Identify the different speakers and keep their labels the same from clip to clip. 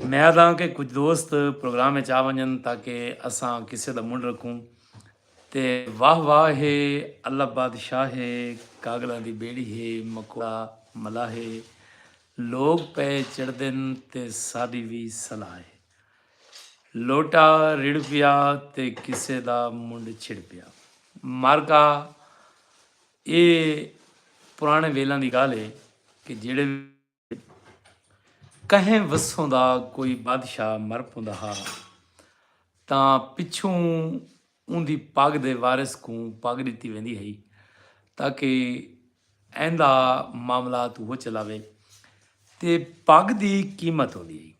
Speaker 1: امید ہاں کہ کجھ دوست پروگرام اچ آ ونجن تاکہ اساں قصے دا منڈھ رکھوں تے واہ واہ ہے اللہ بادشاہ ہے کاگلاں دی بیڑی ہے مکوڑا ملاح ہے لوگ پئے چڑھدن تے ساڈی وی صلاح ہے لوٹا رڑھ پیا تے قصے دا منڈھ چھڑ پیا مارکا اے پرانے ویلاں دی گالھ ہے کہ جیڑے کہیں وسوں دا کوئی بادشاہ مر پوندا ہا تاں پچھوں اوندی پگ دے وارث کوں پگ ڈتی ویندی ہئی تاکہ ایندا معاملہ تو ہو چلاوے تے پگ دی قیمت ہوندی ہئی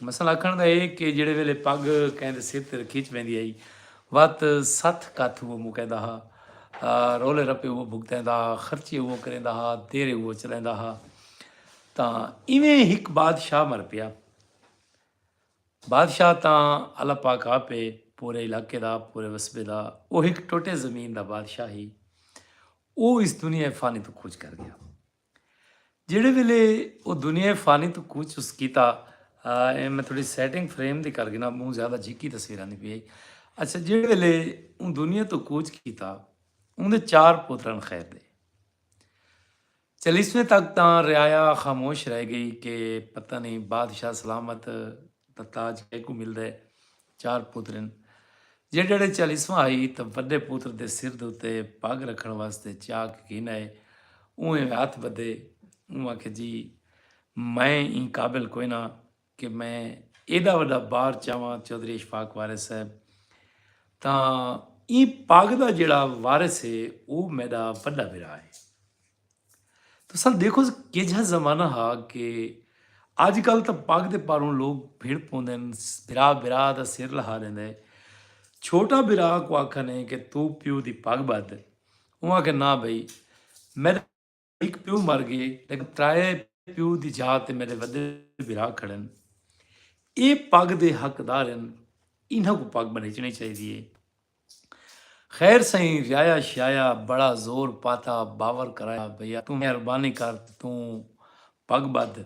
Speaker 1: مثلا آکھݨ دا اے کہ جیڑھے ویلے پڳ کہیں دے سر تے رکھی چ ویندی ہئی وت ستھ کتھ اوہو مکیندا ہا، رولے رپے اوہو بھگتیندا ہا، خرچے اوہو کریندا ہا، دیرے اوہو چلیندا ہا۔ تاں ایویں ہک بادشاہ مر پیا۔ بادشاہ تاں اللہ پاک آپ اے پورے علاقے دا، پورے وسبے دا۔ اوہ ہک ٹوٹے زمین دا بادشاہ ہئی۔ اوہ اس دنیا فانی توں کوچ کر گیا۔ جیڑھے ویلے او دنیائے فانی توں کوچ اس کیتا اے میں تھوڑی سیٹنگ فریم دی کر گنا بہوں زیادہ جھکی تصویر آندی پی اچھا جیڑھے ویلے اون دنیا تو کوچ کیتا اون دے چار پوترن خیر دے چلیسویں تک تاں رعایا خاموش رہ گئی کہ پتہ نہیں بادشاہ سلامت تاج کے کو مل دے چار پتر ہن۔ جیڈڑے چالیسواں ہئی تاں وڈے پتر دے سر دے اتے پگ رکھن واسطے چاک گھن آئے۔ اونہہ وی ہتھ بدھے۔ اوں آکھیا جی میں ایں قابل کوئی نہ کہ میں ایڈا وڈا بار چاواں چوہدری اشفاق وارث صاحب تاں ایں پگ دا جیڑا وارث ہے او میڈا وڈا بھرا ہے۔ تساں ڈیکھو کیجھا زمانہ ہا کہ اج کل تاں پگ دے پاروں لوگ بھڑ پوندن بھرا بھرا دا سر لہا ڈیندے چھوٹا بھرا کو آکھنے کہ تو پیو دی پگ بدھ اوں آکھے نہ بھئی میڈا ہک پیو مر گئے لیکن ترائے پیو دی جا تے میڈے ودے بھرا کھڑن اے پگ دے حقدار ہن انہاں کو پگ بنیچنی چاہیدی ہے خیر سئیں ویایا شیایا بڑا زور پاتا باور کرایا بھیا توں مہربانی کر تے توں پگ بدھ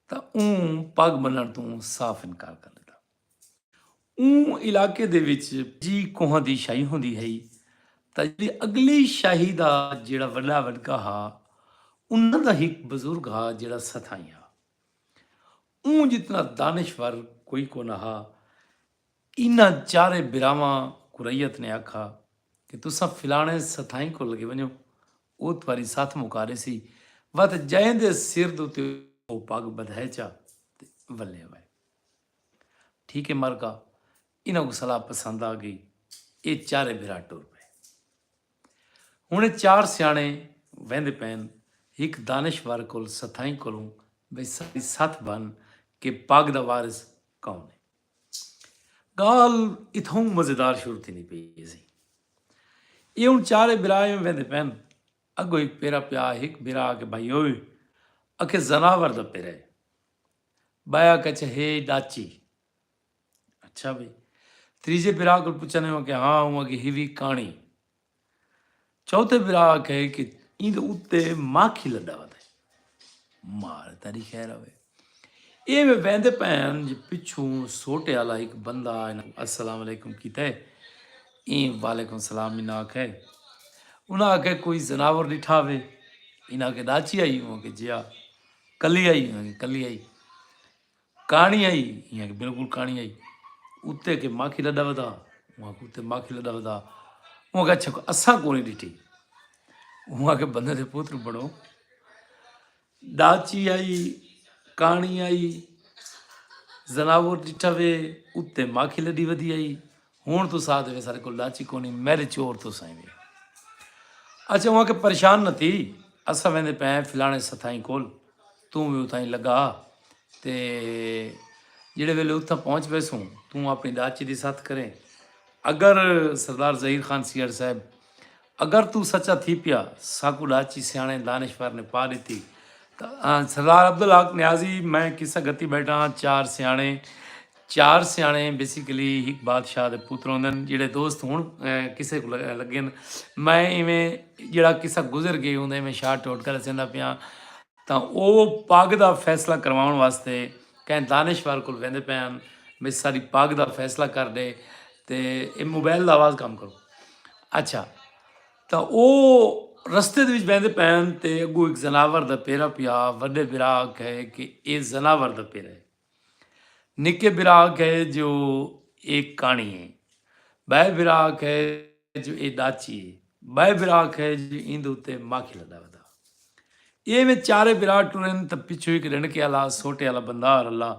Speaker 1: تاں اوں پگ بننڑ توں صاف انکار کر ڈتا اوں علاقے دے وچ پجی کوہاں دی شاہی ہوندی ہئی تاں جیڑھی اگلی شاہی دا جیڑھا وڈا وڈکا ہا انہاں دا ہک بزرگ ہا جیڑھا ستھائیں ہا اوں جتنا دانشور کوئی کونہا انہاں چارے بھراواں کوں رعیت نے آکھا کہ تساں فلانے ستھائیں کول لگے ونجو او تہاڈی ستھ مکا ڈیسی وت جئیں دے سر دے اتے او پگ بدھائے چا تے ولے وائے۔ ٹھیک اے مرکا انہاں کوں صلاح پسند آ گئی اے چارے بھرا ٹر پئے۔ ہن اے چار سیانے ویندے پئن ہک دانش ور کول ستھائیں کولوں بھئی ساڈی ستھ بھن کہ پگ دا وارث کون اے۔ گالھ اتھاؤں مزیدار شروع تھیندی پئی ہیسی۔ ایہ ہن چارے بھرا ایویں ویندے پئن۔ اگو ہک پیرا پیا ہک بھرا آکھے بھائیو اکھے زناور دا پیرا ہے۔ بایا کچھے ہے ڈاچی۔ اچھا بھئی۔ تریجھے بھرا کول پچھن ایویں آکھے ہاں اوں آکھے ہیوی کانڑی۔ چوتھے بھرا آکھے کہ ایندے اتے ماکھی لڈا ودے مال تیری خیر ہوے ایویں ویندے پین جی پچھوں سوٹے والا ایک بندہ السلام علیکم کیتا ہے این وعلیکم السلام انہاں آکھے انہاں آکھے کوئی زناور ڈٹھا وے انہاں کے ڈاچی آئی ہوں کہ جیا کلی آئی ہوں کلی آئی کہاݨی آئی یہاں کہ بالکل کہاݨی آئی اتے کہ ماکھی لڈا ودا وہاں کو تے ماکھی لڈا ودا وہاں کہ اچھا اسا کو نہیں ڈٹی وہاں کہ بندے دے پوتر بڑو ڈاچی آئی کہاݨی آئی زناور ڈٹھا وے اتے ماکھی لڈی ودی آئی ہن تساں آکھدے وے ساڈے کول ڈچ ہی کونی میریچور تساں ہی وے اچھا اوہاں کہ پریشان نہ تھی اساں ویندے پے فلانے ستھائیں کول توں وی اتھاں ہی لگا تے جڑے ویلے اتھاں پہنچ ویسوں توں اپنی ڈچ دی ساتھ کریں اگر سردار ظہیر خان سیاڑ صاحب اگر توں سچا تھی پیا ساکوں ڈاچی سیانے دانشور نے پا ڈتی سردار عبدالحق نیازی میں قصہ گتی بیٹھا ہاں چار سیانے چار سیانے بیسیکلی ایک بادشاہ دے پتر ہوندے ہیں جڑے دوست ہوں کسے کو لگے میں ایویں جڑا قصہ گزر گئے ہوں میں شارٹ ٹوٹ کر سیندا پیا تا او پاگ دا فیصلہ کرواؤن واسطے کہیں دانشور کو ویندے پے ہیں میں ساری پاگ دا فیصلہ کر دے تے موبائل دا آواز کم کرو اچھا تاں او رستے دے وچ بیندے پین تے اگو ایک زناور دا پیرا پیا وڈے برا آکھے کہ اے زناور دا پیرا ہے نکے برا آکھے جو اے کانی ہے بائے برا آکھے جو اے ڈاچی ہے بائے برا آکھے جو ایندے اتے ماکھی لدا ودا ایویں چارے بھرا ٹرن تے پچھوں ہک رنڑکے آلا سوٹے آلا بندار اللہ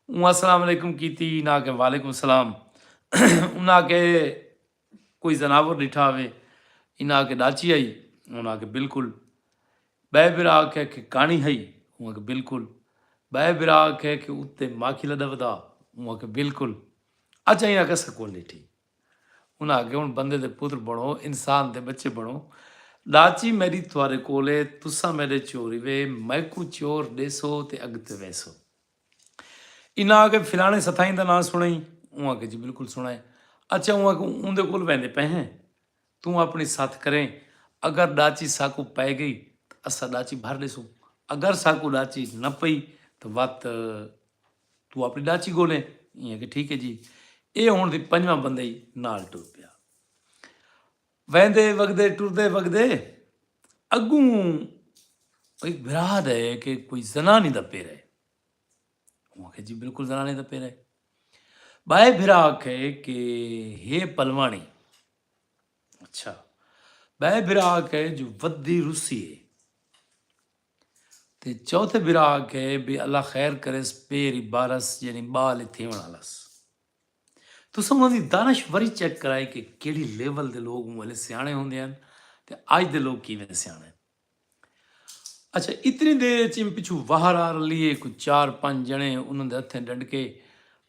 Speaker 1: اوں السلام علیکم کیتی انہاں آکھیا وعلیکم السلام انہاں آکھیا کوئی زناور ڈٹھا ہوے انہاں آکھیا ڈاچی ہئی انہاں آکھیا بالکل بئے بھرا آکھیا کہ کانی ہئی انہاں آکھیا بالکل بئے بھرا آکھیا کہ اتے ماکھی لڈا ودا انہاں آکھیا بالکل اچھا انہاں آکھیا سکول ڈٹھی انہاں آکھیا ہن بندے دے پتر بنڑو انسان دے بچے بنڑو ڈاچی میڈی تہاڈے کول اے تساں میڈے چور ہیوے میکوں چور ڈیسو تے اگتے ویسو انہاں آکھیا فلانے ستھائیں دا ناں سنڑیں اوں آکھیا جی بلکل سنڑا اے اچھا اوں آکھیا اوندے کول ویندے پئے ہیں توں اپݨی ستھ کریں، اگر ݙاچی ساکوں پئے ڳئی تاں اساں ݙاچی بھر ݙیسوں، اگر ساکوں ݙاچی نہ پئی تاں وت توں اپݨی ݙاچی ڳولیں۔ ایں آکھیا ٹھیک ہے جی۔ ایہ ہݨ تھی پنجواں بندہ ای نال ٹر پیا۔ ویندے وڳدے ٹردے وڳدے اڳوں ہک بھرا دے کہ کوئی زنانی دا پیر ہے۔ اوں آکھیا جی بالکل زنانی دا پیر ہے۔ ٻائے بھرا آکھے کہ ہے پلواݨی۔ اچھا بہ برا کے جو ودی روسی ہے تے چوتھے برا کے بھی اللہ خیر کرس پیری بارس یعنی بال تھی ونا لس تو سمو دی دانش وری چیک کرائے کہ کیڑی لیول دے لوگ مولے سیانے ہوندے ہیں تے آج دے لوگ کی میں سیانے اچھا اتنی دیر اچ ایم پچھو واہر آ رلی ہے کوئی چار پنج جنے انہوں دے ہتھیں ڈنڈ کے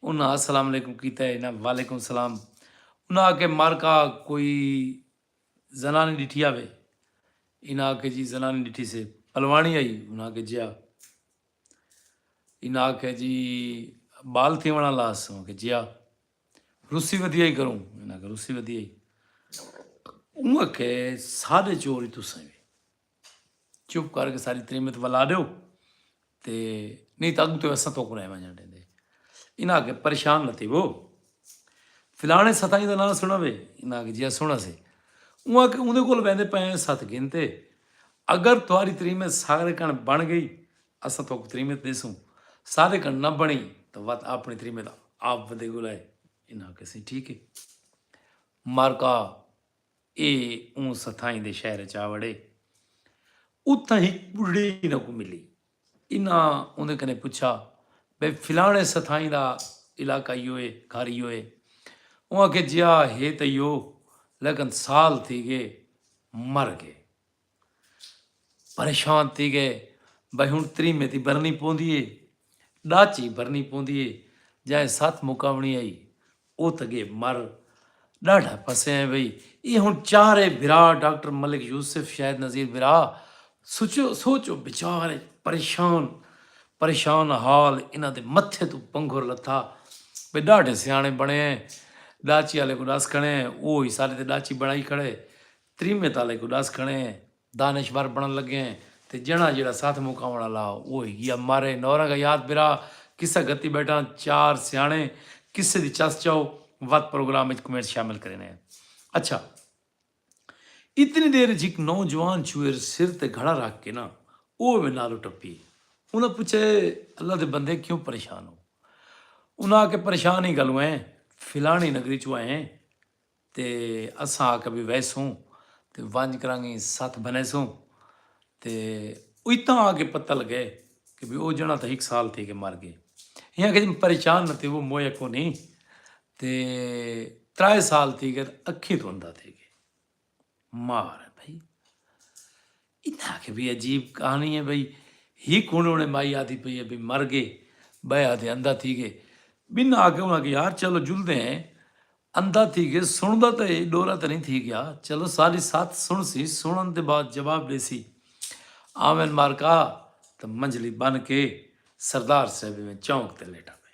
Speaker 1: انہاں السلام علیکم کیتا ہے انہاں وعلیکم السلام انہاں آکے مارکا کوئی زنانی ڈٹھیا وے انہاں آکے جی زنانی ڈٹھی سے پلوانی آئی انہاں آکے جیا انہاں آکے جی بال تھی ونا لاس انہاں آکے جیا روسی ودی آئی کروں انہاں کہ روسی ودی آئی اوں اکھے سادے چور ہی تساں وی چپ کر کے ساری تریمت ولا دیو تے نہیں تو اگو تو ایسا تو کرائے ماں جانٹے دے انہاں کے پریشان لتی وہ فلانے ستائی دا نام سنا وے انہاں کے جیا سنا سے اوں اکھے اندھے کول بیندے پہنے ست گھنتے اگر تواری تریمت ساگرے کن بن گئی اساں تہاکوں تریمت ݙیسوں، ساݙے کنوں نہ بݨی تاں وت آپݨی تریمت آپ ودے ڳلائے۔ انہاں آکھیسیں، ٹھیک ہے۔ مارکا اے اوں ستھائیں دے شہر ءچ آ وڑے۔ اتھاں ہک ٻڈھڑی انہاں کوں ملی۔ انہاں اوندے کنیں پچھا، بھئی فلاݨے ستھائیں دا علاقہ ایہو ہے، گھر ایہو ہے؟ اوں آکھیا، جیا ہے تاں ایہو، لیکن سال تھی ڳئے مر ڳئے۔ پریشان تھی گئے بھائی ہن تریمے تی بھرنی پوندی اے ڈاچی بھرنی پوندی اے جائیں ست مکاونی آئی او تاں گے مر ڈاڈھا پھسے ہیں بھائی اے ہن چارے بھرا ڈاکٹر ملک یوسف شاہد نذیر بھرا سوچو سوچو بچار پریشان پریشان حال انہاں دے متھے تو پنگھر لتھا بھائی ڈاڈھے سیانے بنے ہیں ڈاچی والے کو ڈس کھڑے ہیں او ہی سارے تے ڈاچی بنائی کھڑے تریمے تالے کوں ڈس کھڑے ہیں دانش ور بنن لگے ہیں تے جنڑا جیڑا ساتھ مکاون آلا ہا اوہ ہی گیا مارے نورنگ حیات برا قصہ گھتی بیٹھاں چار سیانے قصے دی چس چاؤ وت پروگرام اچ کمنٹس شامل کرینے ہیں اچھا اتنی دیر اچ ہک نوجوان چھوئر سر تے گھڑا رکھ کے نا اوہ وے نالو ٹپیے انہاں پچھا اے اللہ دے بندے کیوں پریشان ہو انہاں آکھے پریشان ہی گالوں ہیں فلانی نگری چوں آئے ہیں تے اساں آکھیا وی ویسوں تے ونج کرانگیں ستھ بھنیسوں تے اتاں آکے پتہ لگے کہ وی او جنڑا تاں ہک سال تھی کے مر گئے ہیں آکھیا جی پریشان نہ تھیوو موئے کونی تے ترائے سال تھی گئے اکھیں توں اندھا تھی گئے مار بھئی انہاں آکھیا بی عجیب کہاݨی اے بھئی ہک ہن اوڑے مائی آدھی پئی اے بی مر گئے بئے آدھے اندھا تھی گئے بنہاں آکھیا انہاں کہ یار چلو جلدے ہیں اندھا تھی گئے سنڑدا تاں اے ڈورا تاں نئیں تھی گیا چلو ساڈی ساتھ سنڑسی سنڑن دے بعد جواب ڈیسی آوین مارکا تاں منجھلی بن کے سردار صاحب ایویں چونک تے لیٹا پئے۔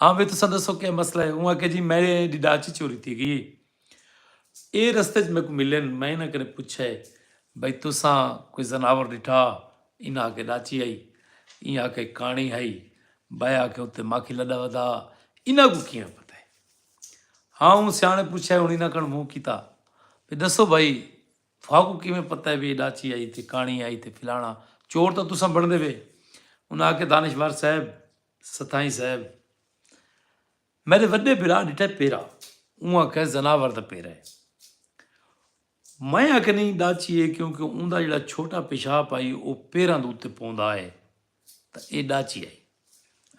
Speaker 1: ہاں وی تساں دسو کیا مسئلہ ہے؟ اوں آکھیا جی میڈے دی ڈاچی چوری تھی گئی ہے اے رستے اچ میکوں ملن میں انہاں کنیں پچھیا ہے بھئی تساں کوئی زناور ڈٹھا انہاں آکھیا ڈاچی ہئی ایں آکھیا کانڑی ہئی بئے آکھیا اتے ماکھی لڈا ودا انہاں کوں کیاں پتہ ہے ہاں اوں سیاݨے پچھیا ہن انہاں کن موں کیتا بھئی دسو بھئی تھاکوں کیویں پتہ ہے وی اے ڈاچی آئی تے کاݨی آئی تے فلاݨا چور تاں تساں بݨدے وے۔ انہاں آکھیا دانشور صاحب، ستھائیں صاحب! میݙے وݙے بھرا ݙٹھا ہے پیرا۔ اوں آکھیا ہے زناور دا پیرا ہے۔ میں آکھیا نئیں ڈاچی ہے کیونکہ اوندا جیڑھا چھوٹا پیشاب آئی او پیراں دے اتے پوندا ہے تاں اے ڈاچی آئی۔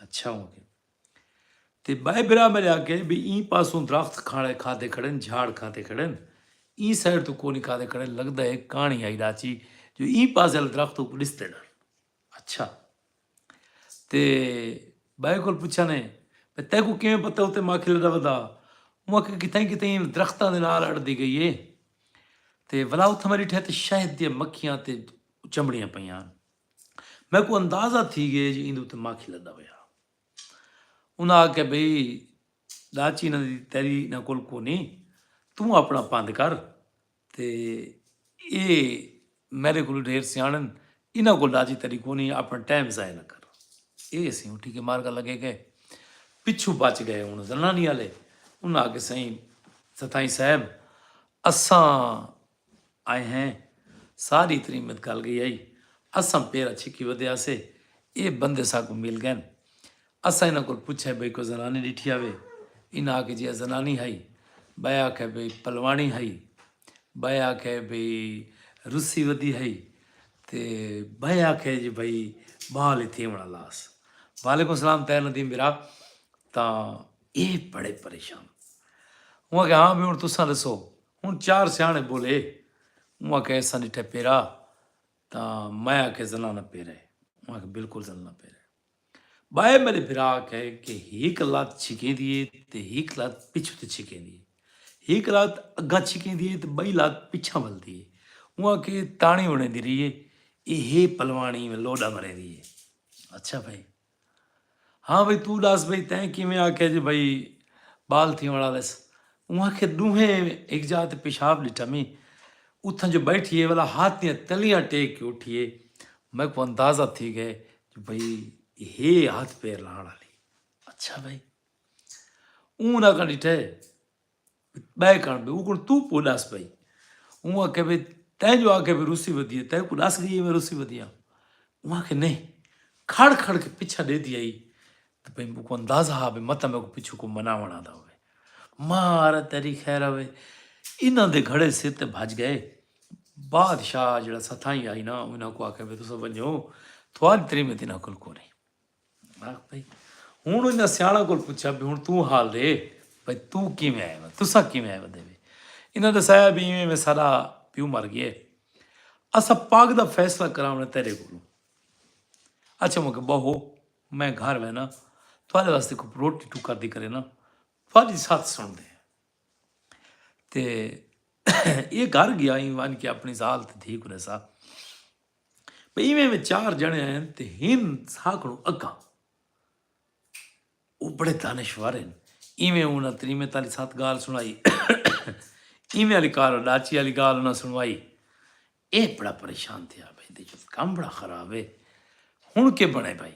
Speaker 1: اچھا ہوں۔ تے ٻئے بھرا میݙے آکھئے بھئی ایں پاسوں درخت کھاڑے کھادے کھڑن، جھاڑ کھادے کھڑن، ایں سائیڈ توں کونی کھادے کھڑن، لڳدا ہے کاݨی آئی ݙاچی جو ایں پاسے آلے درخت اوکوں ݙسدے ݙن۔ اچھا تے ٻئے کول پچھانے بھئی تیکوں کیویں پتہ اتے ماکھی لݙا ودا؟ اوں آکھئے کتھائیں کتھائیں انہاں درختاں دے نال اڑدی ڳئی ہے تے ولا اتھاں میں ݙٹھے تے شہد دیاں مکھیاں تے چمڑیاں پئیاں ہن۔ میکوں اندازہ تھی گئے جو ایندے اتے مکھ لدا ہویا انہاں آکھیا بھئی ڈاچی انہاں دی تیری انہاں کول کونی توں اپنا پند کر تے اے میرے کول ڈھیر سیاڑن انہاں کول ڈاچی تیری کونی اپنا ٹائم ضائع نہ کر اے اسی ہوں ٹھیک ہے مار گل لگے گئے پچھو بچ گئے ہوں زنانی والے انہاں آکھیا سائیں ستائیں صاحب اساں آئے ہیں ساری ترین مت گل گئی آئی اساں پیرا چھکی ودے آسے اے بندے ساکوں مل گئن اساں انہاں کول پچھے بھئی کوئی زنانی ڈٹھی آوے انہاں آکھے جی اے زنانی ہائی بائے آکھے بھئی پلوانی ہائی بائے آکھے بھئی رسی ودی ہائی تے بائے آکھے جی بھئی بال اتھی ہونا لاس وعلیکم السلام تیر ندیم برا تا اے بڑے پریشان ہوں کہ ہاں بھی ہوں تساں دسو ہن چار سیاݨے ٻولے۔ اوں آکھیا ایساں ݙٹھے پیرا تاں میں آکھیا زنانہ پیرا ہے۔ اوں آکھیا بالکل زنانہ پیرا ہے۔ ٻائے میݙے بھرا آکھیا ہے کہ ہک لت چھکیندی ہے تے ہک لت پچھوں تے چھکیندی ہے۔ ہک لت اڳاں چھکیندی ہے تے ٻئی لت پچھاں ولدی ہے۔ اوں آکھیا تاݨی اݨیندی رہی ہے۔ ایہ ہے پلواݨی لوݙا مریندی ہے۔ اچھا بھائی ہاں بھئی توں ڈس بھئی تیں کیویں آکھیا جے بھئی بال تھیونڑ آلس۔ اوں آکھیا ڈوہیں ہک جاہ تے پیشاب ڈٹھا میں اتھاں جو بیٹھی اے ولا ہاتھ دیاں تلیاں ٹیک کے اٹھی اے میکوں اندازہ تھی گئے جو بھئی ہے ہاتھ پیر لانڑ آلی۔ اچھا بھئی اوں انہاں کن ڈٹھے ٻئے کݨ بھئی اوکݨ توں پو ݙس بھئی اوں آکھیا بھئی تیں جو آکھیا بھئی روسی ودی ہے تیں کوں ݙس ڳئی ہے میں روسی ودی ہاں اوں آکھیا نہیں کھڑ کھڑ کے پچھا ݙے دی آئی تے بھئی میکوں اندازہ ہا بھئی متاں میکوں پچھو کو مناوݨ آندا ہووے مار تیری خیر ہوے انہاں دے گھڑے سر تے بھج گئے بادشاہ جڑا ستھائی آئی نا انہاں کو آکھیا بھئی تساں ونجو تھواری تریمت انہاں کول کونی ہوں انہیں سیاح کو پوچھا بھی ہوں توں حال رے بھائی توں کیویں آئے وا تسا کیویں آئے ودے انہیں دسایا بھی ایویں میں سارا پیو مر گئے اسا پاک دا فیصلہ کراونے تیرے کو اچھا مکہ بہو میں گھر میں نا تھوڑے واسطے کو روٹی ٹکا دی کرے نا تھوڑی ساتھ سن دے تے یہ گھر گیا ہی وان کے اپنی زال تے دھی کو رسا بھئی ایویں ایویں چار جنے آئن تے ہن ساکھڑوں اکاں او بڑے دانشور ہیں ایویں انہاں تریمے تالی سات گال سنائی ایویں علی کار ڈاچی علی گال انہاں سنوائی اے بڑا پریشان تھیا بھئی دے جو کم بڑا خراب ہے ہن کے بنے بھائی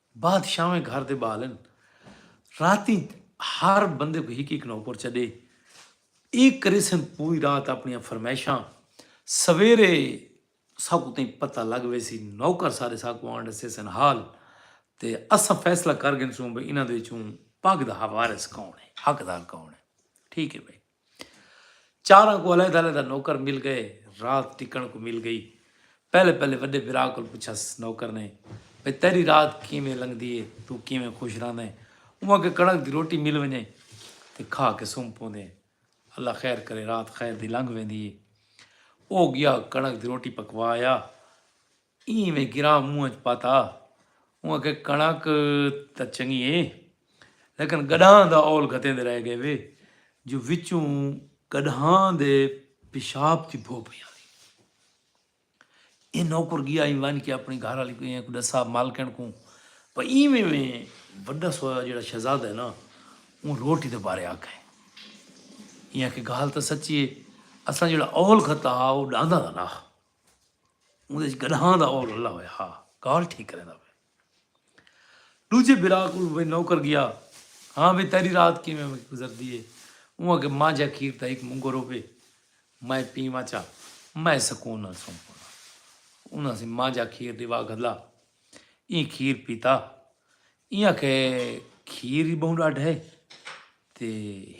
Speaker 1: بادشاہویں گھر دے ٻال ہن۔ راتیں ہر بندے کوں ہک ہک نوکر چݙے اے کریسن پوری رات اپݨیاں فرمائشاں۔ سویرے ساکوں تئیں پتہ لڳ ویسی۔ نوکر سارے ساکوں آن ݙسیسن حال تے اساں فیصلہ کر گھنسوں بھئی انہاں دے وچوں پڳ دا وارث کون ہے، حقدار کون ہے۔ ٹھیک ہے بھئی۔ چاراں کوں علیحدہ علیحدہ نوکر مل گئے۔ رات ٹکݨ کوں مل گئی۔ پہلے پہلے وݙے بھرا کول پچھس نوکر نے بھئی تیݙی رات کیویں لنگھدی ہے، توں کیویں خوش رہندیں، اونویں کہ کݨک دی روٹی مل ونڄے تے کھا کے سم پوندیں، اللہ خیر کرے رات خیر دی لنگھ ویندی ہے۔ او ڳیا کݨک دی روٹی پکوا آیا۔ ایں میں گراہ منہ اچ پاتا۔ اوں آکھیا کݨک تاں چنگی اے لیکن گݙانہہ دا اول گھتیندے رہ ڳئے وے جو وچوں گݙانہہ دے پیشاب دی بھو پئی آندی۔ اے نوکر ڳیا ایں ونڄ کے اپݨی گھر آلی کوں ݙسا مالکݨ کوں پر ایں میں میں وݙا سویا جیڑھا شہزادہ اے نا اوں روٹی دے بارے آکھئے۔ ایں آکھیا ڳالھ تاں سچی اے اساں جیڑھا اول گھتا ہا او ݙاہندا دا نا ہا۔ اوندے وچ گڈھاں دا اور رلا ہویا ہا گال ٹھیک کریندا پیا دوجے بھرا کول وی نوکر گیا ہاں وی تیری رات کیویں گزردی ہے اوں کہ ماں جا کھیر دا ہک منگو روپے میں پیواں چا میں سکون نال سن پونا انہاں سی ماں جا کھیر دیوا گھلا ایں کھیر پیتا ایں کہ کھیر ہی بہوں ڈاڈھ ہے تے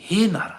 Speaker 1: ہے نارا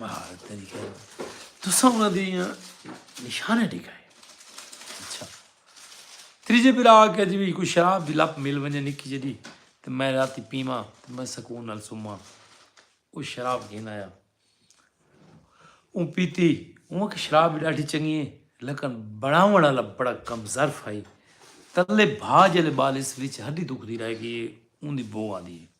Speaker 1: مہارت نہیں کہہ رہا تسا انہاں دی نشانے ڈکھائے اچھا تریجے پھر آ کے جی کوئی شراب دی لپ مل ونجے نکی جڑی تے میں رات پیواں تے میں سکون نال سوماں او شراب گھن آیا اون پیتی اون کہ شراب ڈاڈھی چنگی ہے لیکن بناون والا بڑا کم ظرف ہے تلے بھا جلے بالس وچ ہڈی دکھ دی رہ گئی اون دی بو آدی ہے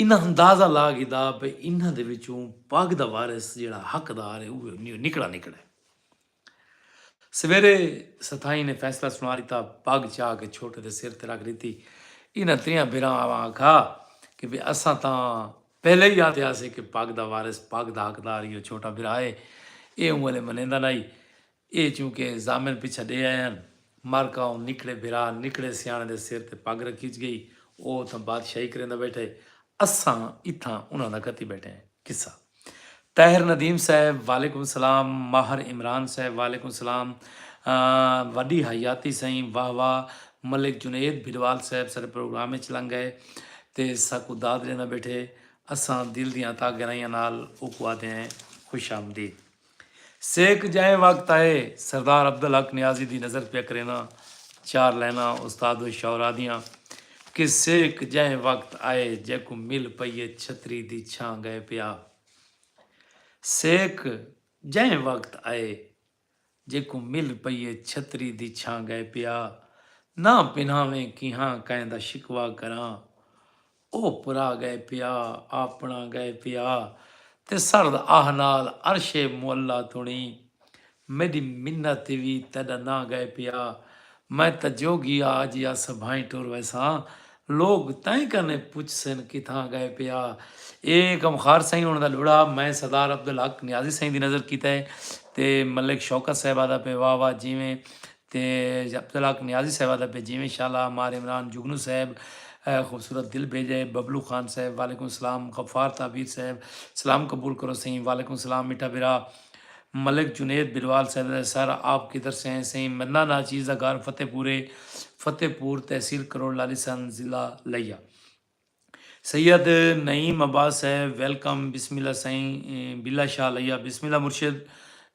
Speaker 1: انہاں اندازہ لا گھدا بھئی انہاں دے وچوں پگ دا وارث جیڑھا حقدار ہے اوہ انیوں نکڑا نکڑا ہے۔ سویرے ستھائیں نے فیصلہ سنا ݙتا، پگ چا کے چھوٹے دے سر تے رکھ ݙتی۔ انہاں تریاں بھیراں آ آکھا کہ بھئی اساں تاں پہلے ہی آندے ہاسے کہ پگ دا وارث پگ دا حقدار ایہو چھوٹا بھرا ہے۔ ایہ اوں ولے منیندا نہ ہئی۔ اے چوں کہ ضامن پچھا ڈے آئے ہن۔ مر کاؤں نکڑے بھرا نکڑے سیاݨے دے سر تے پڳ رکھیج ڳئی۔ او اتھاں بادشاہی کریندا ٻیٹھا ہے۔ اساں اتھاں انہاں دا کتی ٻیٹھے ہیں۔ قصہ۔ طاہر ندیم صاحب، وعلیکم السلام۔ ماہر عمران صاحب، وعلیکم السلام۔ وݙی حیاتی سئیں، واہ واہ۔ ملک جنید بھڈوال صاحب ساݙے پروگرام اچ لنڳ ڳئے تے ساکوں داد ݙیندا ٻیٹھے۔ اساں دل دیاں تاں گہرائیاں نال اوکوں آہدے ہیں، خوش آمدید۔ سیک جائیں وقت آئے سردار عبدالحق نیازی دی نظر پیا کرینداں چار لائناں استاد و شعراء دیاں کہ سیک جائیں وقت آئے جیکوں مل پئی اے چھتری دی چھاں گئے پیا سیک جائیں وقت آئے جیکوں مل پئی اے چھتری دی چھاں گئے پیا ناں پنہاویں کیہاں کائیں دا شکوہ کراں او پرا گئے پیا، آپݨا گئے پیا تے سرد آہ نال عرش معلی تݨی میݙی منت تے وی تیݙا ناں گئے پیا میں تاں جوگی آ جی آساں بھائیں ٹر ویساں لوک تئیں کنے پچھسن کتھاں گئے پیا اے غمخوار سئیں ہوݨ دا لڑھا میں سردار عبدالحق نیازی سئیں دی نظر کیتے تے ملک شوکت صاحب آہدا پئے واہ واہ جیویں تے عبدالحق نیازی صاحبہ دا بھیجے ویں شالا مار عمران جگنو صاحب خوبصورت دل بھیجے ببلو خان صاحب وعلیکم السلام غفار تعبیر صاحب سلام قبول کرو سئیں وعلیکم السلام میٹھا بھرا ملک جنید بلوال صاحب دا سر آپ کدھر سے ہیں سئیں مدنہ ناچیز دا گھر فتح پورے فتح پور تحصیل کروڑ لالی سن ضلع لیا سید نعیم عباس صاحب ویلکم بسم اللہ سائیں بلا شال ایا بسم اللہ مرشد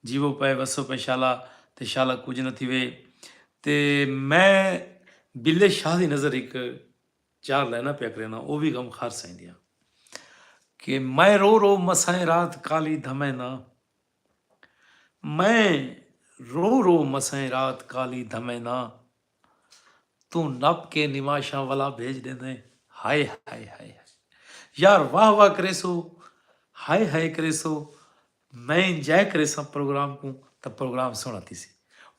Speaker 1: جیوو پئے وسو پئے شالا تے شالا کجھ نہ تھیوے تے میں بلے شاہ دی نظر ہک چار لائناں پیا کرینا او وی غم خار سائیں دیاں کہ میں رو رو مسائیں رات کالی دھمیں نا میں رو رو مسائیں رات کالی دھمیں نا توں نپ کے نماشاں ولا بھیج ڈیندیں ہائے ہائے ہائے ہائے یار واہ واہ کریسو ہائے ہائے کریسو میں انجائے کریساں پروگرام کوں تاں پروگرام سوہنڑا تھیسی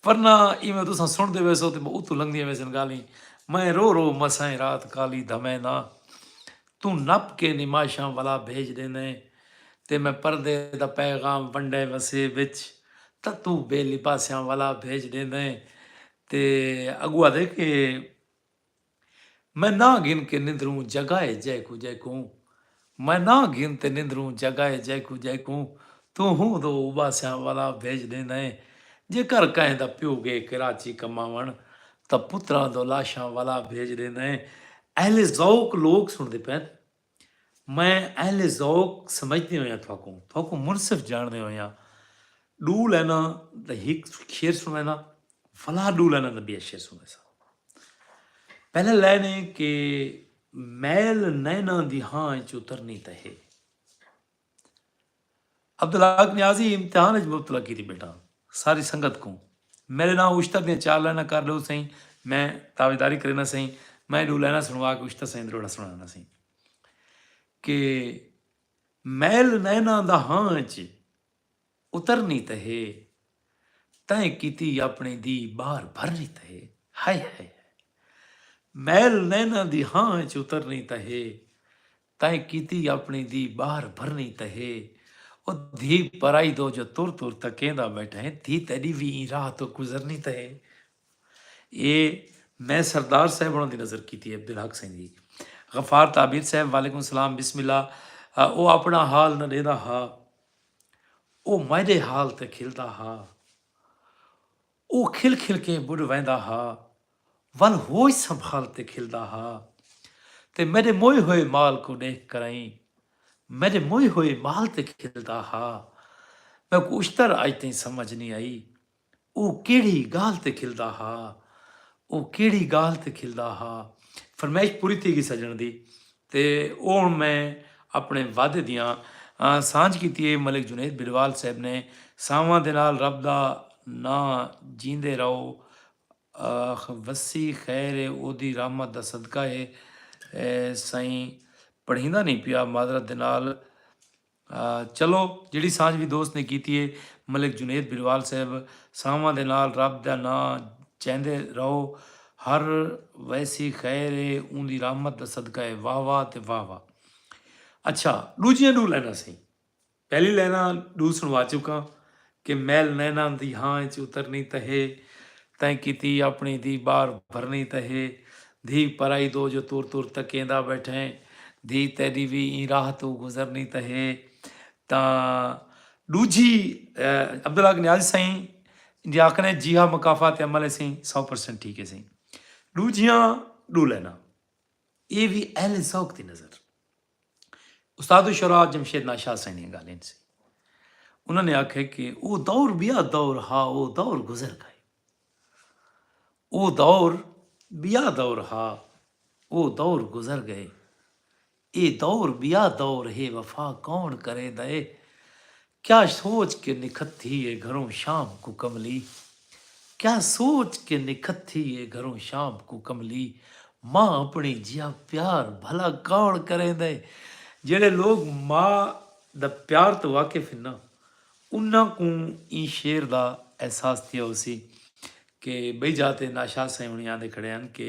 Speaker 1: ورنہ ایویں تساں سنڑدے ویسو تے اتوں لنگدیاں ویسن گالیں میں رو رو مسائیں رات کالی دھمیں نہ توں نپ کے نماشاں ولا بھیج ڈیندیں تے میں پردے دا پیغام ونڈے وسیب وچ تاں توں بے لباسیاں ولا بھیج ڈیندیں تے اگو آدھے کہ میں نہ گھن کے نندروں جگائے جے کو جے کوں میں نہ گھن تے نندروں جگائے جے کو جے کوں تو ہوں دو اباسیاں والا بھیج دے نئے جے کر کہیں دا پیو گے کراچی کماون تا پتراں دو لاشاں والا بھیج دے نئے اہل ذوق لوگ سن دے پین میں اہل ذوق سمجھدیں ہوئیاں تھاکوں تھاکوں منصف جانڑدیں ہوئیاں ڈو لائناں دا ہک شعر سنڑینداں ولا ڈو لائناں دا بیا شعر سنڑیساں پہلا لائن ہے کہ میل نیناں دی ہاں چ اترنی تہے عبدالحق نیازی امتحان اچ مبتلا کیتی بیٹھا ساری سنگت کوں میڈے نال اشتر دیاں چار لائناں کر ڈیو سئیں میں تابعداری کرینا سئیں میں ڈو لائناں سنوا کے اشتر سئیں دروڑا سنڑانا سئیں کہ میل نیناں دا ہاں اچ اترنی تہ ہے تیں کیتی اپنے دی بار بھرنی تہ ہے ہائے ہائے میل نیناں دی ہاں اچ اترنی تہ ہے تئیں کیتی اپݨی دی ٻاہر بھرنی تاں ہے او دھی پرائی دو جو تر تر تکیندا ٻیٹھا ہے دھی تیݙی وی ایں راہ توں گزرنی تاں ہے اے میں سردار صاحب ہوݨاں دی نظر کیتی ہے عبدالحق سئیں دی غفار تعبیر صاحب وعلیکم سلام بسم اللہ او اپݨا حال نہ ݙیندا ہا او میݙے حال تے کھلدا ہا او کھل کھل کے ٻݙ ویندا ہا۔ ول ہوئی سنبھال تے کھلدا ہا تے میݙے موئے ہوئے مال کوں ݙیکھ کرائیں میݙے موئے ہوئے مال تے کھلدا ہا میکوں اشتر اڄ تئیں سمجھ نی آئی او کیڑھی ڳالھ تے کھلدا ہا او کیڑھی ڳالھ تے کھلدا ہا۔ فرمائش پوری تھی گی سجݨ دی تے او ہݨ میں اپݨے وعدے دیاں سانجھ کیتی اے ملک جنید بھلوال صاحب نے سانواں دے نال رب دا ناں جیندے رہو آخ وسی خیر ہے اودی رحمت دا صدقہ ہے سائیں پڑھیندا نہیں پیا معذرت دے نال چلو جیڑی سانجھ بھی دوست نے کیتی ہے ملک جنید بھروال صاحب سانواں دے نال رب دا ناں چیندے رہو ہر ویسی خیر ہے اوندی رحمت دا صدقہ ہے واہ واہ تے واہ واہ اچھا ڈوجیاں ڈو لائناں سائیں پہلی لائناں ڈو سنوا چکاں کہ میل نیناں دی ہاں اچ اترنی تاں ہے تیں کیتی اپنی دی بار بھرنی تاں ہے دھی پرائی دو جو تر تر تکیندا بیٹھیں دھی تیڈی وی ایں راہ توں گزرنی تاں ہے تاں ڈوجھی عبدالحق نیازی سئیں جی آکھنے جی ہا مکافات تے عمل ہے سئیں سو پرسنٹ ٹھیک ہے سئیں ڈوجھیاں ڈو لائناں اے وی اہل ذوق دی نظر۔ استاد الشرا جمشید ناشاہ سائیں دی گالیں سی انہاں نے آکھے کہ او دور بیا دور ہا او دور گزر گئے او دور بیا دور ہا او دور گزر گئے اے دور بیا دور ہے وفا کون کرے دے کیا سوچ کے نکھتی ہے گھروں شام کوں کملی کیا سوچ کے نکھتی ہے گھروں شام کوں کملی ماء اپنڑی جیہا پیار بھلا کون کریندا ہے جیہڑے لوگ ماء دا پیار توں واقف ہن نا انہاں کوں ایں شعر دا احساس تھیا ہوسی کہ بئی جاہ تے ناشاد سائیں ہنڑی آندے کھڑے ہن کہ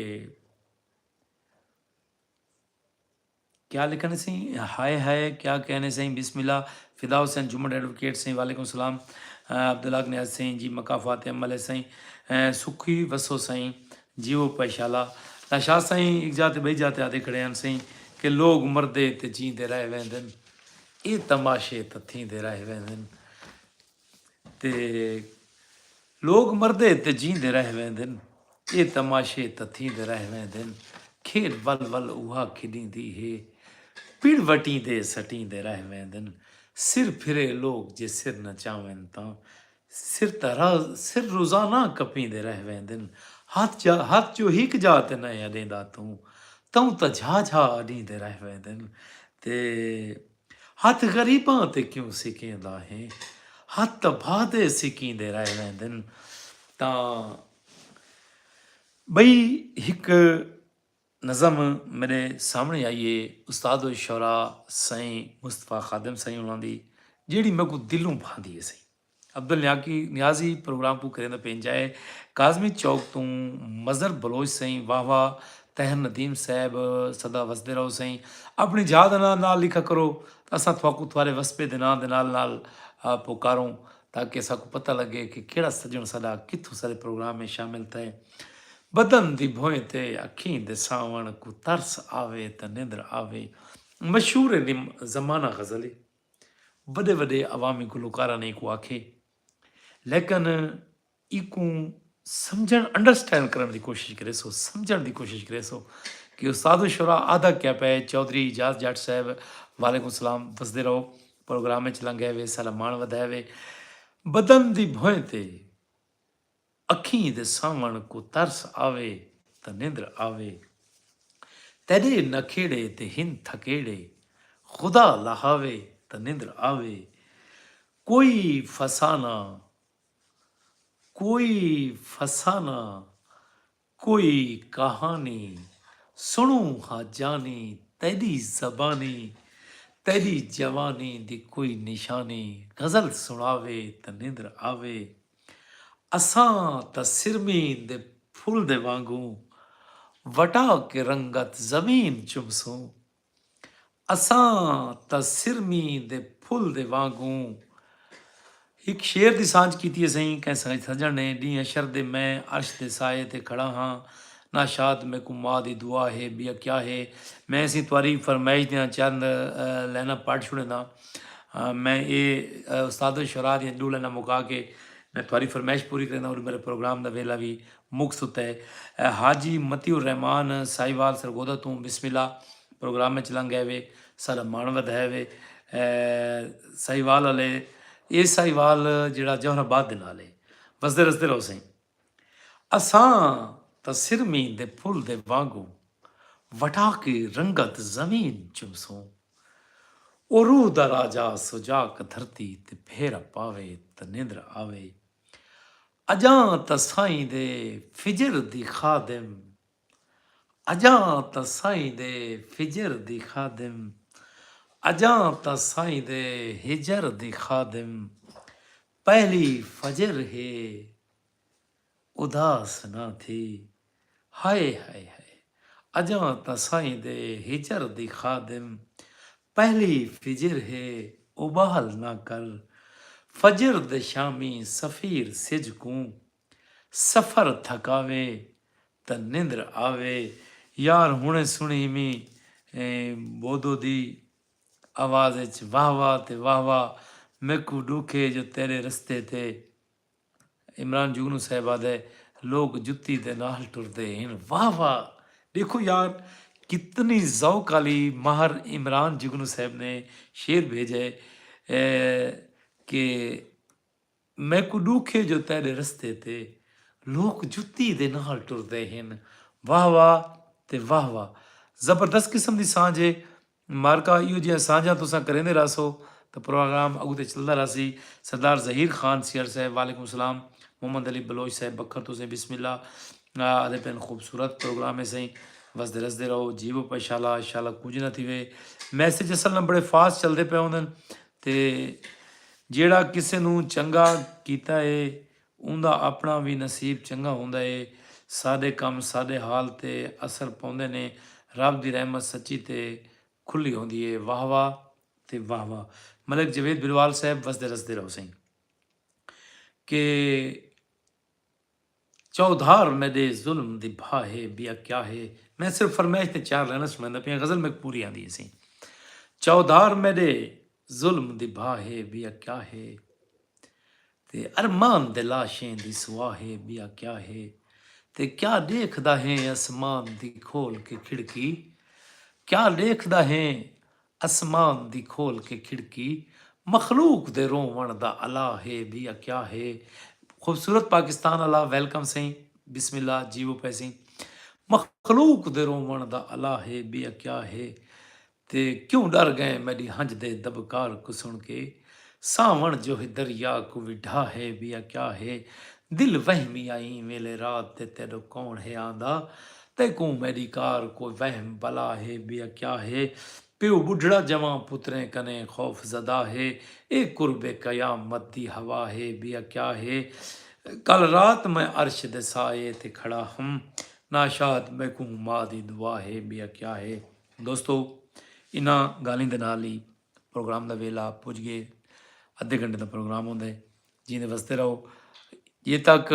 Speaker 1: کیا لکھݨے سئیں ہائے ہائے کیا کہݨے سئیں بسم اللہ فدا حسین جھمݨ ایڈووکیٹ سئیں وعلیکم السلام عبدالحق نیاز سئیں جی مکافات عمل ہے سئیں سکھی وسو سئیں جیو پئے شالا دا شاہ سئیں اک جاہ تے بئی جاہ تے آدے کھڑے ہن سئیں کہ لوگ مردے تے جیندے رہ ویندن اے تماشے تاں تھیندے رہ ویندن تے لوک مردے تے جیندے رہ ویندن اے تماشے تاں تھیندے رہ ویندن کھیڈ ول ول اوہا کھڈیندی ہے پڑ وٹیندے سٹیندے رہ ویندن سر پھرے لوک جے سر نچاون تاں سر تاں سر روزانہ کپیندے رہ ویندن ہتھ جا ہتھ جو ہک جا تے نئیں اڈیندا توں توں تاں جھا جھا اڈیندے رہ ویندن تے ہتھ غریباں تے کیوں سکیندا ہیں ہتھ تاں بھادے سکیندے رہ ویندن تاں بئی ہک نظم میرے سامنے آئی ہے استاد الشعراء سائیں مصطفی خادم سائیں انہاں دی جیڑی میکو دلوں بھاندی ہے سائیں عبدالنیاکی نیازی پروگرام کوں کریندے پئے انجھائے کاظمی چوک توں مظہر بلوچ سئیں واہ واہ طاہر ندیم صاحب سدا وسدے رہو سئیں اپنڑی جاہ دا ناں نال لکھا کرو تاں اساں تھواکوں تھوارے وسبے دے ناں دے نال نال پکاروں تاکہ اساکوں پتہ لگے کہ کیڑا سجنڑ ساڈا کتھوں سارے پروگرام میں شامل تھئے بدن دی بھوئیں تے اکھیں دے ساونڑ کوں ترس آوے تاں نیندر آوے مشہور زمانہ غزلی۔ وݙے وݙے عوامی گلوکاراں نے ایکوں آکھے لیکن ایکوں سمجھݨ انڈرسٹینڈ کرݨ دی کوشش کرے سو سمجھݨ دی کوشش کرے سو کہ استاد الشرا آدھا کیا پے چودھری اعجاز جٹ صاحب وعلیکم السلام وسدے رہو پروگرام وچ لنگے وے سلام مان ودھائے وے بدن دی بھوئیں تے اکھیں دے ساوݨ کوں ترس آوے تاں نندر آوے تیݙے نکھیڑے تے ہن تھکیڑے خدا لہاوے تاں نندر آوے کوئی فسانہ کوئی فسانہ کوئی کہانی سݨوں ہا جانی تیݙی زبانی تیݙی جوانی دی کوئی نشانی غزل سݨاوے تاں نندر آوے اساں تاں سرمین دے پھل دے وانگوں وٹا کے رنگت زمین چمسوں۔ اساں تاں سرمی دے پھل دے وانگوں ہک شعر دی سانجھ کیتی ہے سئیں کہیں سنگت سجݨ نے ݙینہہ حشر دے میں عرش دے سائے تے کھڑا ہاں نا شاد میکوں ماء دی دعا ہے ٻیا کیا ہے میں سئیں تہاݙی فرمائش دیاں چند لائناں پڑھ چھوڑینداں میں اے استاد الشعراء دیاں ݙو لائناں مکا کے میں تہاݙی فرمائش پوری کرینداں اور میرے پروگرام دا ویلا وی مک ستے حاجی مطیع الرحمن ساہیوال سرگودھا توں بسم اللہ پروگرام اچ لنگ گئے وے ساڈا مان ودھائے وے ساہیوال آلے اے ساہیوال جیڑھا جوہر آباد دے نال اے وسدے رسدے رہو سئیں اساں تاں سرمی دے پھل دے وانگوں وٹا کے رنگت زمین چمسوں او روح دا راجا سجاک دھرتی تے پھیرا پاوے تاں نیندر آوے۔ اجاں تاں سائیں دے فجر دی خادم اجاں تاں سائیں دے فجر دی خادم اجاں تاں سائیں دے ہجر دی خادم پہلی فجر ہے اداس نہ تھی۔ ہائے ہائے ہائے اجاں تاں سائیں دے ہجر دی خادم پہلی فجر ہے اوٻال نہ کر فجر دے شامی سفیر سجھ کوں سفر تھکاوے تاں نندر آوے۔ یار ہنڑے سنڑی امی بودو دی آواز اچ واہ واہ تے واہ واہ میکوں ڈکھ اے جو تیرے رستے تے عمران جگنو صاحب آدھے لوک جتی دے نال ٹردے ہن واہ واہ ڈیکھو یار کتنی ذوق آلی مہر عمران جگنو صاحب نے شعر بھیجے کہ میکو ڈوکھ ہے جو تیڈے رستے تے لوک جتی دے نال ٹردے ہن واہ واہ تے واہ واہ زبردست قسم دی سانجھ ہے مبارکاں ایہو جیہاں سانجھاں تساں کریندے رہسو تاں پروگرام اگو تے چلدا رہسی سردار ظہیر خان سیال صاحب وعلیکم السلام محمد علی بلوچ صاحب بکھر توں سائیں بسم اللہ آدھے پین خوبصورت پروگرام ہے سائیں وسدے رسدے رہو جیو پہ شالا شالا کچھ نہ تھیوے میسج اصل نہ بڑے فاسٹ چلدے پے ہوندن تے جیڑا کسے نو چنگا کیتا ہے اوندا اپݨا وی نصیب چنڳا ہوندا اے۔ ساݙے کم ساݙے حال تے اثر پوندے نے۔ رب دی رحمت سچی تے کھلی ہوندی اے۔ واہ واہ تے واہ واہ ملک جاوید بھلوال صاحب وسدے رسدے رہو سئیں کہ چودھار میݙے ظلم دی بھا ہے بیا کیا ہے میں صرف فرمائش تے چار لائناں سݨاندا پیاں غزل میک پوری آندی ہے سئیں چودھار میݙے ظلم دی بھاہ ہے ٻیا کیا ہے تے ارمان دے لاشیں دی سوا ہے ٻیا کیا ہے تے کیا ݙیکھدا ہیں اسمان دی کھول کے کھڑکی کیا ݙیکھدا ہیں اسمان دی کھول کے کھڑکی مخلوق دے رووݨ دا الا ہے ٻیا کیا ہے خوبصورت پاکستان الا ویلکم سئیں بسم اللہ جیو پئے سئیں مخلوق دے رووݨ دا الا ہے ٻیا کیا ہے تے کیوں ڈر گئیں میڈی ہنج دے دبکار کوں سن کے ساون جو ہے دریا کوں وی ڈھا ہے بیا کیا ہے دل وہمی آ ایں ویلے رات دے تیڈو کون ہے آندا تیکوں میڈی کار کوئی وہم بلا ہے بیا کیا ہے پیو بڈھڑا جواں پتریں کنے خوف زدہ ہے اے قرب قیامت دی ہوا ہے بیا کیا ہے کل رات میں عرش دے سائے تے کھڑا ہم ناشاد میکوں ماء دی دعا ہے بیا کیا ہے۔ دوستو انہاں گالھیں دے نال ہی پروگرام دا ویلا پج گئے ادھے گھنٹے دا پروگرام ہوندا ہے جیندے وستے رہو یہ تک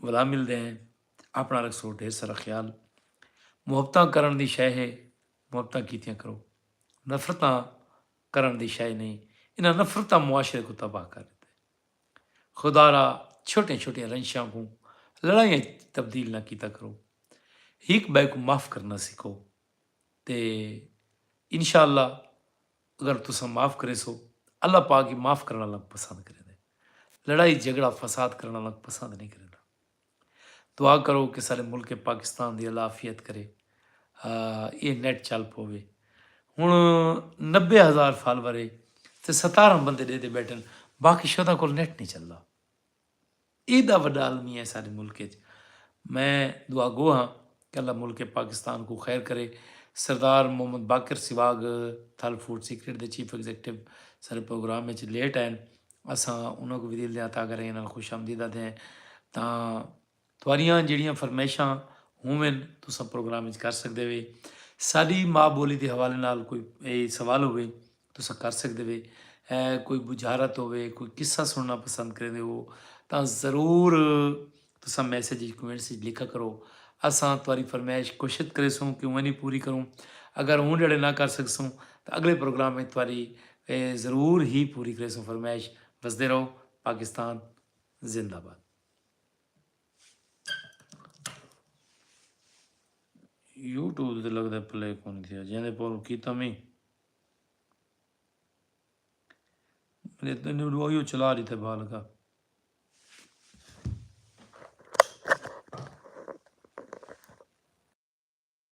Speaker 1: ولا ملدے ہیں اپنا رکھسو ڈھیر سارا خیال محبتاں کرن دی شے ہے محبتاں کیتیاں کرو نفرتاں کرن دی شے نہیں انہاں نفرتاں معاشرے کو تباہ کر دیتے خدا را چھوٹے چھوٹے رنشاں کو لڑائیاں تبدیل نہ کیتا کرو ہک بے کو معاف کرنا سیکھو تے انشاءاللہ اگر تساں معاف کریسو اللہ پاک ہی معاف کرݨ آلاں کوں پسند کریندے لڑائی جھگڑا فساد کرݨ آلاں کوں پسند نئیں کریندا دعا کرو کہ سارے ملک پاکستان دی اللہ عافیت کرے اے نیٹ چل پوے ہن نبے ہزار فالورے تے ستارہ بندے ڈے دے بیٹھن باقی شودا کول نیٹ نہیں چلدا ایڈا وڈا المیہ ہے ساڈے ملک اچ میں دعا گو ہاں کہ اللہ ملک پاکستان کوں خیر کرے Sardar Muhammad Baqir swag Thal food secret دے چیف ایگزیکٹو سارے پروگرام اچ لیٹ آئن اساں انہاں کوں بھی دل دیاں تاں گرہیں نال خوش آمدید آدھے ہیں تاں تہاݙیاں جیڑھیاں فرمائشاں ہوون تساں پروگرام وچ کر سڳدے وے۔ ساݙی ماء ٻولی دے حوالے نال کوئی اے سوال ہووے تساں کر سڳدے وے۔ کوئی بجھارت ہووے، کوئی قصہ سݨݨا پسند کریندے ہو تاں ضرور تساں میسج وچ کومنٹس وچ لکھا کرو۔ اساں تہاݙی فرمائش کوشش کریسوں کہ اونہی پوری کروں۔ اگر اوں جیڑھے نہ کر سڳسوں تاں اڳلے پروگرام وچ تہاݙی ضرور ہی پوری کریسوں فرمائش۔ وسدے رہو پاکستان زندہ باد۔ یوٹیوب تے لگدا پلے کونی تھیا جیندے پور کیتا میں میرے تو نے ویڈیو چلا رہی تھے بال کا